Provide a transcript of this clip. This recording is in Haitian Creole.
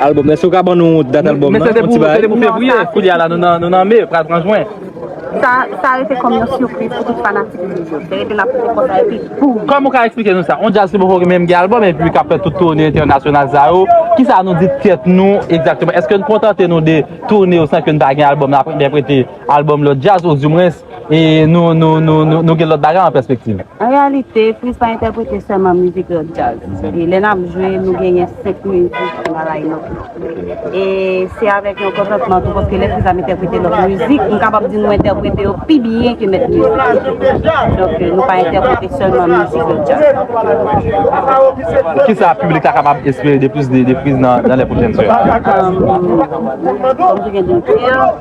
Album, èske ou ka ban nou dat album nan? Mwen se te pou fevriye, koulye a la nou nan me, pral pran jwen. Sa rete kòm yon sipriz pou tout fanatik mizik yo. Te rete nan pote konsa epi boom! Kòman ou ka eksplike nou sa? Yon djaz ki poko menm gen album epi kap fè tout toune entènasyonal sa yo, kisa nou di tèt nou egzakteman? Èske nou kontante nou de toune yo san ke nou pa gen album nan aprè entèprete album lòt djaz ouzimwens? e nou gen lòt bagay an pèspektiv. An reyalite, Prince pa entèprete sèlman mizik lòt djaz. E lè n ap jwe, nou genyen 5 mizik nan line-up nou. E se avèk yon kontantman tou paske lè Prince ap entèprete lòt mizik, m kapab di nou entèprete yo pi byen ke mèt mizik yo tou. Donk, nou pa entèprete sèlman mizik lòt djaz. Kisa piblik la kapab espere de plis de Prince nan lè pwochèn yo? Kòm jan gen di m te di an.